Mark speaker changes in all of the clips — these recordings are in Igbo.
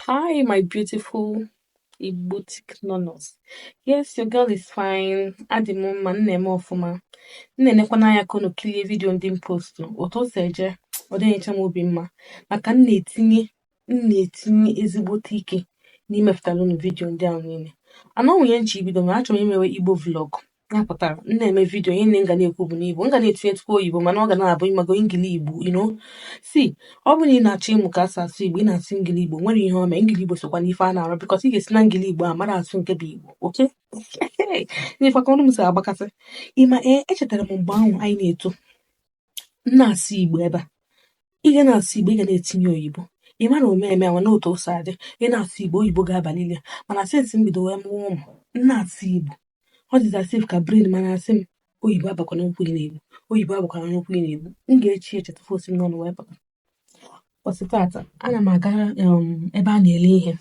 Speaker 1: Hi, my beautiful Igbotic nonos. Yes, your girl is fine. Adị m mma, m na-eme ọfụma. M na-enekwanụ anya ka unu kilie vidio ndị m postu. Otu o si eje, ọ dịghị enyecha m obi mma. Maka m na-etinye m na-etinye ezigbote ike n'imepụtara unu vidiyo ndị ahụ niile and o nwee ihe m chọ ibido ma achọrọ imewe igbo vlog ya pụtara m na-eme vidiyo ihe niine m ga na-ekwu bụ n'igbo m ga na-etinyetụkwu oyibo mana ọ ga na-abụ ị mago ngili igbo you know see ọ bụrụ na ị na-achọ ịmụ ka e si asụ igbo ị na-asụ ngili igbo o nwerọ ihe o mee ngili igbo sokwa n'ife a na-arụ because ị ga-esi na ngili igbo a mara asụ nke bụ igbo okay na-afụ ka ọnụ m si agbakasị ị ma ee echetara m mgbe ahụ anyị na-eto na-asụ Igbo ebe a ị ga na-asụ Igbo ị ga na-etinye oyibo ị mara omeme nwa na otu o si adị ị na-asụ Igbo oyibo ga-abalịlị ya mana since m bido wee mụọ ụmụ m na-asụ Igbo ọ dịzị as if ka brain m na-asị m oyibo abakwana n'okwu ị na-ekwu oyibo abakwana n'okwu ị na-ekwu m ga-eche eche tupu o si m n'ọnụ wee pụta Ụbọsị tata, ana m aga um, ebe a na-ele ihe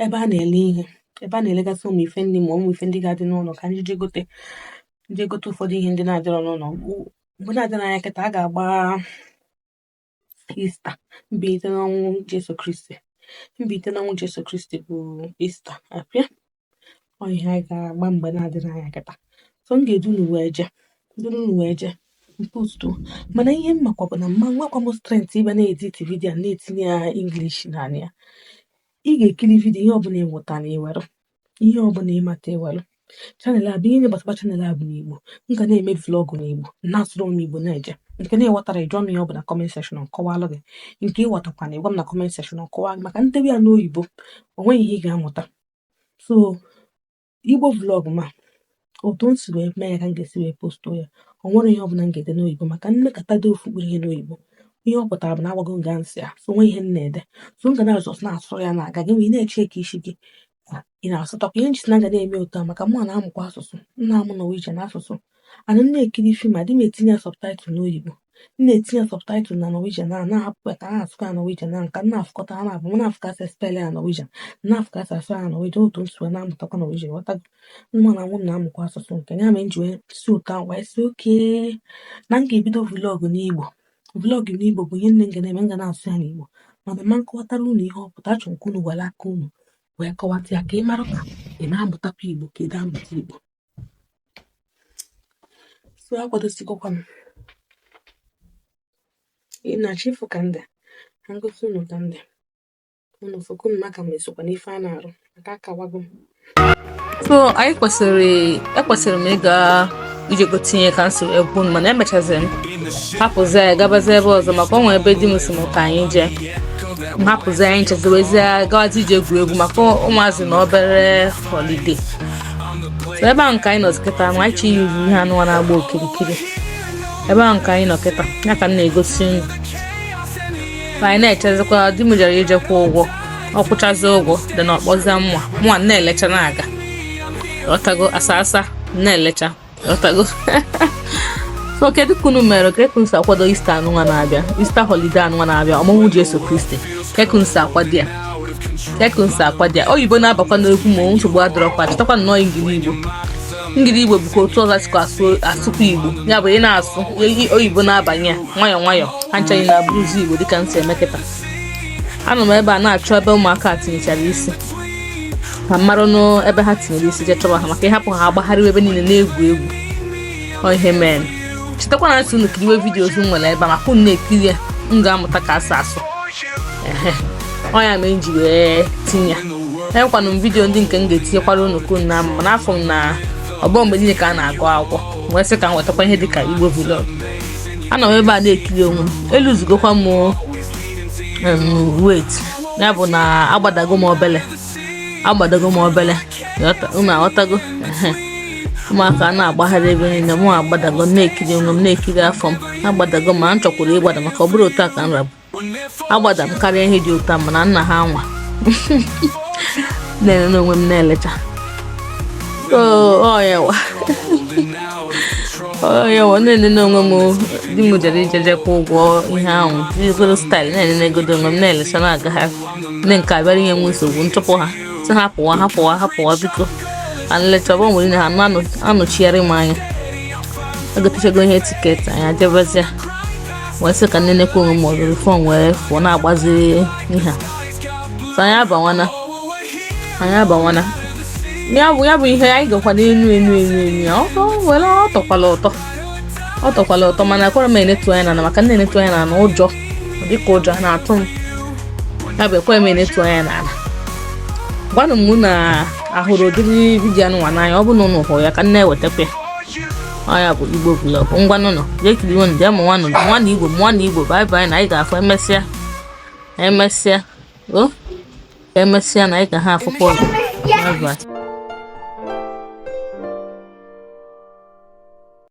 Speaker 1: ebe a na-ele ihe ebe a na-elegasị ụmụ ife ndị ma ụmụ ife ndị ga-adị n'ụlọ ka m je je gote ụfọdụ ihe ndị na-adịrọ n'ụlọ mgbe na-adịrọ anya kịta a ga-agba ista mbilite n'ọnwụ Jesu Kristi mbilite n'ọnwụ Jesu Kristi bụ ista abịa ọ ihe anyị ga-agba mgbe na-adịrọ anya kịta so m ga-edu unu wee jee duru unu wee jee m postu mana ihe m makwa bụ na m ma nwekwa m strength ịbịa na-edit vidiyo na-etinye ya English n'anị ya ị ga-ekiri vidiyo ihe ọbụla ị mụta na ya i were ihe ọbụla ị mata i were channel a bụ ihe gbasakwa channel a bụ n'Igbo m ga na-eme vlog n'Igbo na-asụrụ m Igbo na-eje nke ị na-aghọtarọ ị jụọ m ihe ọ bụ na comment section m kọwalụ gị nke ị ghọtakwanụ ị gwa m na comment section m kọwa gị maka m debe ya n'oyibo o nweghị ihe ị ga-amụta so igbo vlog m a otu m si wee mee ya ka m ga-esi wee postu ya o nwerọ ihe ọbụla m ga-ede n'oyibo maka m mekata dee ofu mkpụrụ ihe n'oyibo ihe ọ pụtara bụ na agwago m gị answer so o nwerọ ihe m na-ede so m ga na-asụ na-asụ ya na-aga gị ma ị na-echika isi gị ị na-asụtakwa ihe m ji sị na m ga na-eme otu a maka mụwa na-amụkwa asụsụ m na-amụ Norwegian asụsụ and m na-ekiri film adị m etinye ya subtitle n'oyibo m na-etinye ya subtitle na Norwegian a na-ahapụ ya ka a na-asụkwa ya Norwegian na m ga na-afụkọta ha naabọ m na-afụ ka e si spell ya Norwegian na-afụ ka e si asụ ya Norwegian otu m si wee na-amụtakwa Norwegian ị ghọtago mụwa n'onwe m na-amụkwa asụsụ nke ya mere m ji wee si otu ahụ wee sị okay na m ga-ebido vlog n'igbo vlog n'igbo bụ ihe niine m ga na-eme m ga na-asụ ya n'igbo mana ama m kọwatara unu ihe ọ pụta achọrọ m ka unu were aka unu wee kọwata ya ka ị mara ka ị na-amụtakwa igbo ka ị na-amụta igbo so akwadosigokwa m ị na-achọ ịfụ ka m dị ka m gosi unu ka m dị unu fụkwa m maka m esokwa n'ife a na-arụ maka akawago m so anyị kwesịrị ekwesịrị m ịga ije gote ihe ka m si wee gbuo mana emechaziri m hapụzi ya gabazie ebe ọzọ maka ọ nwere ebe di m sị m ka anyị jee m hapụzi anyị ncheziwezie gawazi ije egwuregwu maka ụmụazị na obere họlide so ebe ahụ ka anyị nọ kịta ma anyị chọ iyuzu ihe anụwa na-agba okirikiri ebe ahụ ka anyị nọ kịta ya ka m na-egosi unu ma anyị na-echezikwa di m jere ije kwụọ ụgwọ ọ kwụchazi ụgwọ then ọ kpọzie m ma mụnwa na-elecha na-aga ọtago asa asa na-elecha so kedu ka unu mere kee ka unu si akwado easter anụnwa na-abịa easter holiday anụnwa na-abịa ọmụmụ Jesu Kristi ka ekunsi akwado ya ka ekunsi akwado ya oyibo na-abakwa n'okwu ma nsogbu adịrọkwa chetakwa na ọ ngiligbo ngiligbo bụkwa otu ụzọ e sikwa asụkwa igbo ya bụ ị na-asụ oyibo na-abanye ya nwayọọ nwayọọ ha ncha ga na-abụrụzi igbo dịka m si eme kịta anọ m ebe a na-achọ ebe ụmụaka tinyechara isi ka m marụ n'ebe ha tinyere isi je chọba ha maka ị hapụ ha agbagharịwa ebe niile na-egwu egwu ihe mere chetakwa na m sị unu kiriwe vidiyo ọzọ m nwere ebe a maka unu na-ekiri ya unu ga-amụtakwa asụsụ ọ ya mere m ji wee tinye ya enwekwanụ m vidiyo ndị nke m ga-etinyekwara unu ka unu na-ama mana afụ m na ọ bụrọ mgbe niile ka a na-agụ akwụkwọ wee sị ka m wetakwa ihe dịka igbo vlog anọ m ebe a na-ekiri onwe m eluzugokwa m weight ya bụ na agbadago m obele agbadago m obere unu aghọtago ụmụaka na-agbagharị ebe niile mụ agbadago na-ekiri onwe m na-ekiri afọ m agbadago ma m chọkwuru ịgbada maka ọ bụrọ otu a ka m rabụ agbada m karịa ihe dị otu a mana nna ha nwa na-enene onwe m na-elecha oyewa oyewa na-enene onwe m di m jere ije je kwụọ ụgwọ ihe ahụ jizoro staịlụ na-enenegodu onwe m na-elecha na-agagharị ndị nke a bịara inye m nsogbu m chụpụ ha sị ha pụwa ha pụwa ha pụwa biko ka m lechaba onwe m na ha anọchigoro m anya egotechago ihe tiketi anyị ejebezie wee sị ka m nenekwa onwe m ọzọ fon wee fụọ na-agbaziri ihe a so anyị abanwana anyị abanwana ya bụ ya bụ ihe anyị gakwa n'elu elu elu elu ya ọ were ọ tọkwala ụtọ ọ tọkwala ụtọ mana akwara m enetu anya ana maka m netu anya ana ụjọ dịka ụjọ na-atụ m ya bụ ekwe m enetu anya n'ala gwanụ m ma a hụrụ ụdịrị vidiyo anụnwa n'anya ọ bụ na ụnụ hụrụ ya ka m na-ewetakwa ya bụ igbo vlog ngwanụ nụ jee kiriwanụ jee mụwanụ mụọnụ igbo mụọnụ igbo bye bye na anyị ga-afụ emesịa emesịa o emesịa na anyị ga-afụkwa ọzọ bye bye